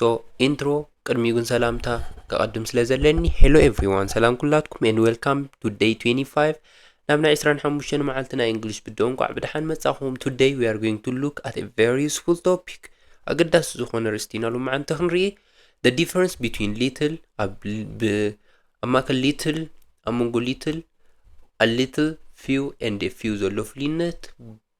ሶ ኢንትሮ ቅድሚኡ ግን ሰላምታ ከቐድም ስለ ዘለኒ ሄሎ ኤቭሪዋን ሰላም ኩላትኩም ኤንድ ዌልካም ቱ ደይ 25 ናብ ናይ 25 መዓልቲ ናይ እንግሊሽ ብድኦ እንቋዕ ብድሓን መጻኹም ቱደይ ዊ ኣር ጎይንግ ቱ ሉክ ኣት ኤ ቨሪ ዩስፉል ቶፒክ ኣገዳሲ ዝኾነ ርእስቲ ኢና ሎማዓንቲ ክንርኢ the difference between little ኣብ ማእከል little ኣብ መንጎ little a little few and a few ዘሎ ፍልዩነት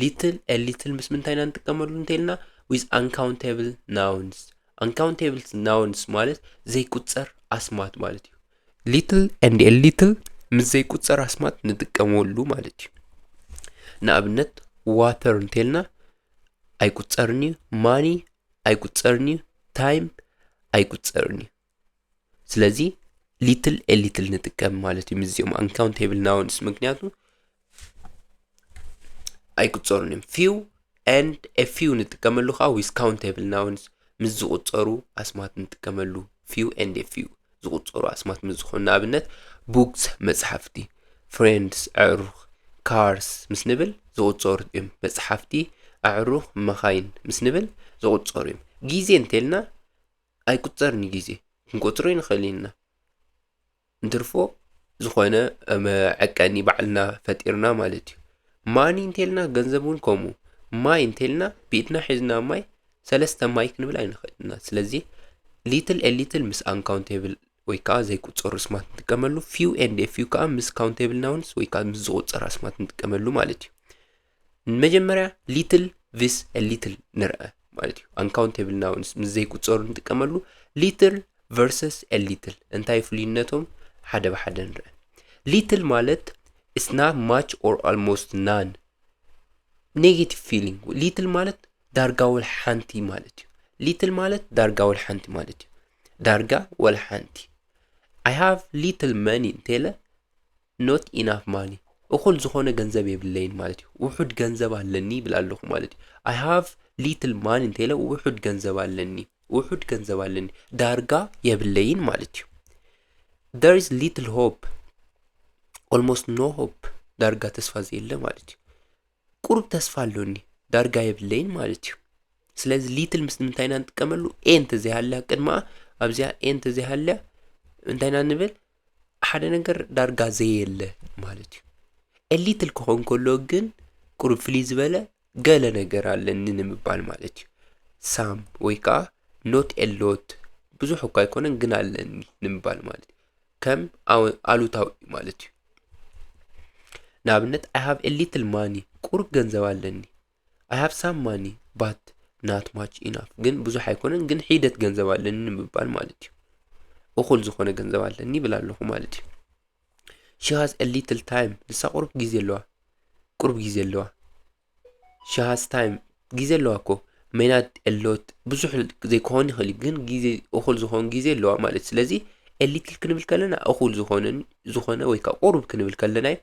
ሊትል ኤ ሊትል ምስ ምንታይ ኢና ንጥቀመሉ እንተይልና ዊዝ ኣንካውንቴብል ናውንስ ኣንካውንቴብል ናውንስ ማለት ዘይቁፀር ኣስማት ማለት እዩ ሊትል ኤንድ ኤ ሊትል ምስ ዘይቁፀር ኣስማት ንጥቀመሉ ማለት እዩ ንኣብነት ዋተር እንተይልና ኣይቁፀርን እዩ ማኒ ኣይቁፀርን እዩ ታይም ኣይቁፀርን እዩ ስለዚ ሊትል ኤ ሊትል ንጥቀም ማለት እዩ ምስዚኦም ኣንካውንቴብል ናውንስ ምክንያቱ ኣይቁፀሩን እዮም ፊው ኤንድ ኤ ፊው ንጥቀመሉ ከዓ ዊዝ ካውንቴብል ናውንስ ምስ ዝቁፀሩ ኣስማት ንጥቀመሉ ፊው ኤንድ ኤ ፊው ዝቁፀሩ ኣስማት ምስ ዝኾኑ ንኣብነት ቡክስ መፅሓፍቲ ፍሬንድስ ኣዕሩኽ ካርስ ምስ ንብል ዝቁፀሩ እዮም መፅሓፍቲ ኣዕሩኽ መኻይን ምስ ንብል ዝቁፀሩ እዮም ግዜ እንተልና ኣይቁጸርን ዩ ግዜ ክንቆጽሮ ኣይንኽእልን ኢና እንትርፎ ዝኾነ መዐቀኒ ባዕልና ፈጢርና ማለት ዩ ማኒ እንተልና ገንዘብ ውን ከምኡ ማይ እንተልና ብኢድና ሒዝና ማይ ሰለስተ ማይ ክንብል ኣይንኽእልን ኢና ስለዚ ሊትል ኤ ሊትል ምስ ኣንካውንቴብል ወይ ከዓ ዘይቁጸሩ ስማት ንጥቀመሉ ፊው ኤንድ ፊው ከዓ ምስ ካውንቴብልና ውንስ ወይ ከዓ ምስ ዝቁጸር ኣስማት ንጥቀመሉ ማለት ዩ ንመጀመርያ ሊትል ቪስ ሊትል ንርአ ማለት እዩ ኣንካውንቴብል ናውንስ ምስ ዘይቁፀሩ ንጥቀመሉ ሊትል ቨርሰስ ሊትል እንታይ ፍልዩነቶም ሓደ ብሓደ ንርአ ሊትል ማለት እስና ማች ኦር ኣልሞስት ናን ኔጌቲቭ ፊሊንግ ሊትል ማለት ዳርጋ ወል ሓንቲ ማለት እዩ ሊትል ማለት ዳርጋ ወል ሓንቲ ማለት እዩ ዳርጋ ወል ሓንቲ ኣይ ሃቭ ሊትል መኒ እንተለ ኖት ኢናፍ ማኒ፣ እኹል ዝኾነ ገንዘብ የብለይን ማለት እዩ። ውሑድ ገንዘብ ኣለኒ ይብል ኣለኹ ማለት እዩ። ኣይ ሃቭ ሊትል ማኒ እንተኢለ ውሑድ ገንዘብ ኣለኒ፣ ውሑድ ገንዘብ ኣለኒ፣ ዳርጋ የብለይን ማለት እዩ። there is little hope almost no hope ዳርጋ ተስፋ ዘየለ ማለት እዩ። ቁሩብ ተስፋ ኣሎኒ ዳርጋ የብለይን ማለት እዩ ስለዚ ሊትል ምስ ምንታይ ኢና ንጥቀመሉ ኤ እንተዘይሃልያ ቅድማኣ ኣብዚኣ ኤ እንተዘይሃልያ እንታይ ኢና ንብል ሓደ ነገር ዳርጋ ዘየለ ማለት እዩ ኤ ሊትል ክኸውን ከሎ ግን ቁሩብ ፍልይ ዝበለ ገለ ነገር ኣለኒ ንምባል ማለት እዩ ሳም ወይ ከዓ ኖት ኤሎት ብዙሕ እኳ ኣይኮነን ግን ኣለኒ ንምባል ማለት እዩ ከም ኣሉታዊ እዩ ማለት እዩ ንኣብነት ኣይ ሃቭ ኤ ሊትል ማኒ ቁሩብ ገንዘብ ኣለኒ ኣይ ሃቭ ሳም ማኒ ባት ናት ማች ኢናፍ ግን ብዙሕ ኣይኮነን ግን ሒደት ገንዘብ ኣለኒ ንምባል ማለት እዩ እኹል ዝኾነ ገንዘብ ኣለኒ ይብል ኣለኹ ማለት እዩ ሺ ሃዝ ኤ ሊትል ታይም ንሳ ቁሩብ ግዜ ኣለዋ ቁሩብ ግዜ ኣለዋ ሺ ሃዝ ታይም ግዜ ኣለዋ እኮ ሜናት ኤሎት ብዙሕ ዘይኮን ይኽእል እዩ፣ ግን ግዜ እኹል ዝኾን ግዜ ኣለዋ ማለት እዩ። ስለዚ ኤሊትል ክንብል ከለና እኹል ዝኾነን ዝኾነ ወይ ከዓ ቁሩብ ክንብል ከለና እዩ።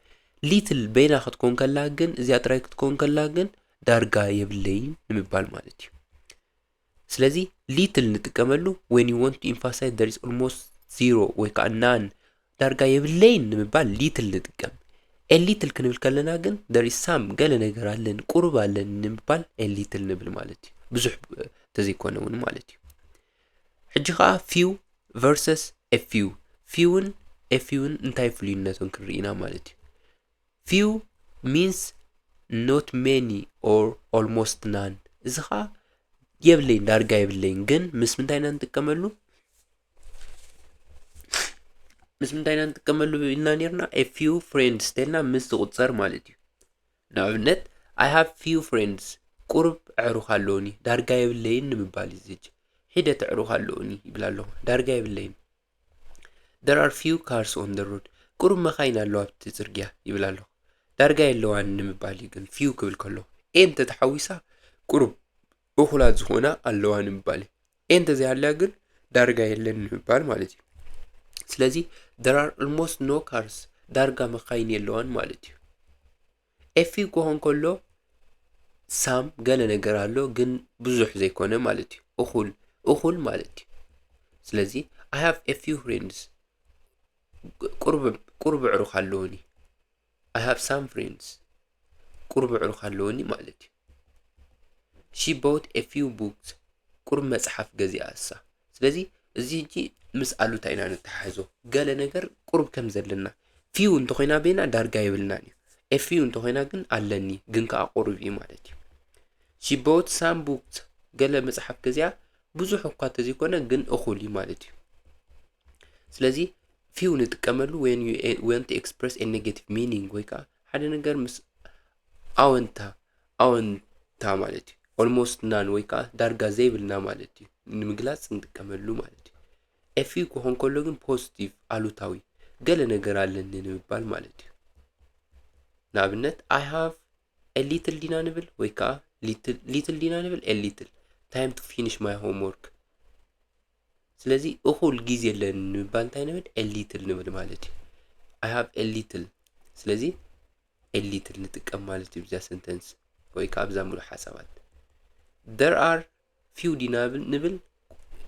ሊትል በይና ክትኮን ከላ ግን እዚኣ ጥራይ ክትኮን ከላ ግን ዳርጋ የብለይን ንምባል ማለት እዩ። ስለዚ ሊትል ንጥቀመሉ when you want to emphasize there is almost zero ወይ ከዓ none ዳርጋ የብለይን ንምባል ሊትል ንጥቀም ኤሊትል ክንብል ከለና ግን there is some ገለ ነገር ኣለን ቁሩብ ኣለን ንምባል ኤሊትል ንብል ማለት እዩ ብዙሕ ተዘይኮነ እውን ማለት እዩ ሕጂ ከዓ ፊው ቨርሰስ ኤፊው ፊውን ኤፊውን እንታይ ፍልዩነቶም ክንርኢና ማለት እዩ Few means not many or almost none እዚ ኸዓ የብለይን ዳርጋ የብለይን ግን ምስ ምንታይ ኢና ንጥቀመሉ ምስ ምንታይ ኢና ንጥቀመሉ ኢልና ነርና a few friends ተልና ምስ ዝቁፀር ማለት እዩ ንኣብነት i have few friends ቁርብ ኣዕሩኽ ኣለውኒ ዳርጋ የብለይን ንምባል እዩ ዝጅ ሒደት ኣዕሩኽ ኣለውኒ ይብል ኣለኹ ዳርጋ የብለይን There are few cars on the road ቁሩብ መኻይን ኣለዋ ኣብቲ ጽርግያ ይብል ኣለኹ ዳርጋ የለዋን ንምባል እዩ ግን ፊው ክብል ከሎ ኤን ተተሓዊሳ ቁሩብ እኹላት ዝኾና ኣለዋ ንምባል እዩ ኤን ተዘይሃልያ ግን ዳርጋ የለን ንምባል ማለት እዩ ስለዚ there are almost no cars ዳርጋ መኻይን የለዋን ማለት እዩ ኤፊ ኮሆ እንከሎ ሳም ገለ ነገር ኣሎ ግን ብዙሕ ዘይኮነ ማለት እዩ እኹል እኹል ማለት እዩ ስለዚ ኣይ ሃቭ ኤ ፊው ፍሬንድስ ቁርብ ቁርብ ዕሩኽ ኣለውኒ ኣይ ሃቭ ሳም ፍሬንድስ ቁርብ ዕሩኽ ኣለውኒ ማለት እዩ ሺ ቦት ኤ ፊው ቡክስ ቁሩብ መጽሓፍ ገዚኣ እሳ ስለዚ እዚ ሕጂ ምስ ኣሉታ ኢና ንተሓሕዞ ገለ ነገር ቁሩብ ከም ዘለና ፊው እንተኾይና ቤና ዳርጋ የብልናን እዩ ኤ ፊው እንተኾይና ግን ኣለኒ ግን ከዓ ቁሩብ እዩ ማለት እዩ ሺ ቦት ሳም ቡክስ ገለ መጽሓፍ ገዚኣ ብዙሕ እኳ ተዘይኮነ ግን እኹል እዩ ማለት እዩ ስለዚ ፊው ንጥቀመሉ ወን ዩ ወንት ኤክስፕረስ ኤ ኔጌቲቭ ሚኒንግ ወይ ከዓ ሓደ ነገር ምስ ኣወንታ ኣወንታ ማለት እዩ ኦልሞስት ናን ወይ ከዓ ዳርጋ ዘይብልና ማለት እዩ ንምግላፅ እንጥቀመሉ ማለት እዩ ኤፊ ክኾን ከሎ ግን ፖዚቲቭ ኣሉታዊ ገለ ነገር ኣለኒ ንምባል ማለት እዩ ንኣብነት ኣይ ሃቭ ኤሊትል ዲና ንብል ወይ ከዓ ሊትል ዲና ንብል ኤሊትል ታይም ቱ ፊኒሽ ማይ ሆምወርክ ስለዚ እኹል ግዜ ኣለኒ ንምባል እንታይ ንብል ኤሊትል ንብል ማለት እዩ ኣይ ሃቭ ኤሊትል ስለዚ ኤሊትል ንጥቀም ማለት እዩ ብዛ ሰንተንስ ወይ ከዓ ብዛ ሙሉእ ሓሳባት ደር ኣር ፊው ዲና ንብል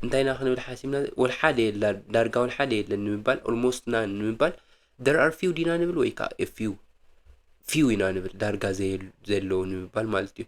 እንታይ ኢና ክንብል ሓሲብና ወል ሓደ የላ ዳርጋ ወል ሓደ የለን ንምባል ኦልሞስት ና ንምባል ደር ኣር ፊው ዲና ንብል ወይ ከዓ ፊው ፊው ኢና ንብል ዳርጋ ዘየሉ- ዘለዉ ንምባል ማለት እዩ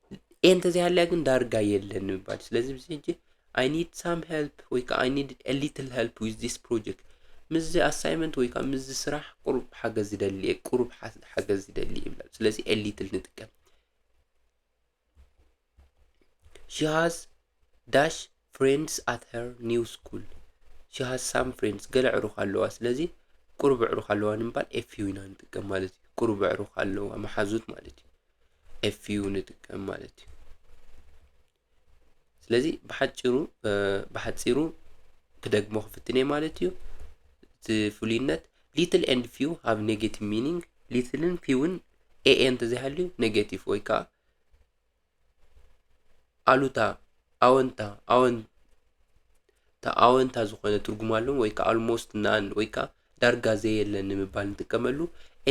ኤ እንተዘይሃልያ ግን ዳርጋ የለን ንምባል ስለዚ ብዚ ሕጂ ኣይ ኒድ ሳም ሄልፕ ወይ ከዓ ኣይ ኒድ ኤ ሊትል ሄልፕ ዊዝ ዚስ ፕሮጀክት ምስዚ ኣሳይመንት ወይ ከዓ ምስዚ ስራሕ ቁሩብ ሓገዝ ዝደሊ እየ ቁሩብ ሓ- ሓገዝ ዝደሊ እየ ይብላ ስለዚ ኤ ሊትል ንጥቀም ሺ ሃዝ ዳሽ Friends at her new school she has some friends ገለ ኣዕሩኽ ኣለዋ ስለዚ ቁሩብ ኣዕሩኽ ኣለዋ ንምባል ኤፍዩ ኢና ንጥቀም ማለት እዩ ቁሩብ ኣዕሩኽ ኣለዋ መሓዙት ማለት እዩ ኤፍዩ ንጥቀም ማለት እዩ ስለዚ ብሓጭሩ ብሓፂሩ ክደግሞ ክፍትን እየ ማለት እዩ እቲ ፍሉይነት ሊትል ኤንድ ፊው ሃብ ኔጌቲቭ ሚኒንግ ሊትልን ፊውን ኤኤ እንተዘይሃልዩ ኔጌቲቭ ወይ ከዓ ኣሉታ ኣወንታ ኣወንታ ኣወንታ ዝኾነ ትርጉም ኣለዎም ወይ ከዓ ኣልሞስት ናን ወይ ከዓ ዳርጋ ዘየለን ንምባል ንጥቀመሉ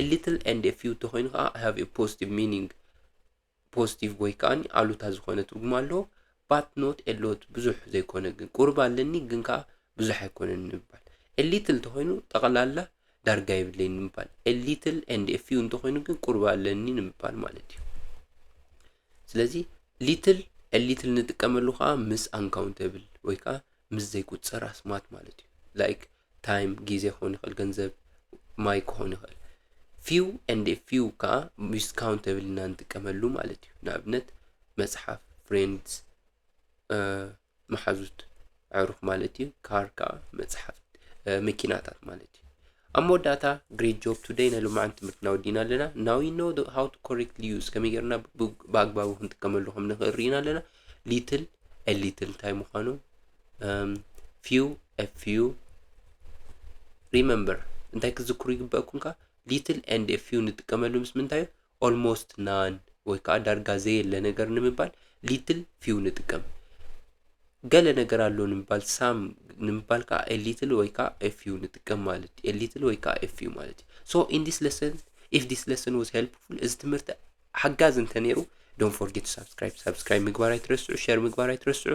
ኤሊትል ኤንድ ፊው ተኮይኑ ከዓ ሃቭ ፖዚቲቭ ሚኒንግ ፖዚቲቭ ወይ ከዓ ኣሉታ ዝኾነ ትርጉም ኣለዎ ባት ኖት ኤሎት ብዙሕ ዘይኮነ ግን ቁርብ ኣለኒ ግን ከዓ ብዙሕ ኣይኮነን ንምባል ኤሊትል ተኮይኑ ጠቕላላ ዳርጋ የብለይን ንምባል፣ a little and a few እንተኾይኑ ግን ቁርብ ኣለኒ ንምባል ማለት እዩ። ስለዚ ሊትል a little ንጥቀመሉ ከዓ ምስ uncountable ወይ ከዓ ምስ ዘይቁፀር ኣስማት ማለት እዩ። ላይክ ታይም ግዜ ክኾን ይኽእል፣ ገንዘብ ማይ ክኾን ይኽእል። ፊው ኤንድ ፊው ከዓ ምስ ካውንተብል ኢና ንጥቀመሉ ማለት እዩ። ንኣብነት መፅሓፍ፣ ፍሬንድስ፣ መሓዙት ኣዕሩኽ ማለት እዩ ካር ከዓ መፅሓፍ መኪናታት ማለት እዩ ኣብ መወዳእታ ግሬት ጆብ ቱደይ ናይ ሎማዓንቲ ትምህርትና ወዲና ኣለና ናው ዩ ኖ ሃው ቱ ኮሬክት ሊዩስ ከመይ ጌርና ብኣግባቡ ክንጥቀመሉ ከም ንኽእል ርኢና ኣለና ሊትል ሊትል እንታይ ምዃኑ ፊው ፊው ሪመምበር እንታይ ክትዝክሩ ይግበአኩም ከ ሊትል ኤንድ ፊው ንጥቀመሉ ምስ ምንታይ ኦልሞስት ናን ወይ ከኣ ዳርጋ ዘየለ ነገር ንምባል ሊትል ፊው ንጥቀም። ገለ ነገር ኣሎ ንምባል ሳም ንምባል ከኣ ኤ ሊትል ወይ ከኣ ኤ ፊው ንጥቀም ማለት እዩ። ኤ ሊትል ወይ ከኣ ኤ ፊው ማለት እዩ። ሶ ኢን ዲስ ለሰን ኢፍ ዲስ ለሰን ዋዝ ሄልፕፉል እዚ ትምህርቲ ሓጋዚ እንተ ነይሩ ዶንት ፎርጌት ሳብስክራይብ ሳብስክራይብ ምግባር ኣይትረስዑ ሸር ምግባር ኣይትረስዑ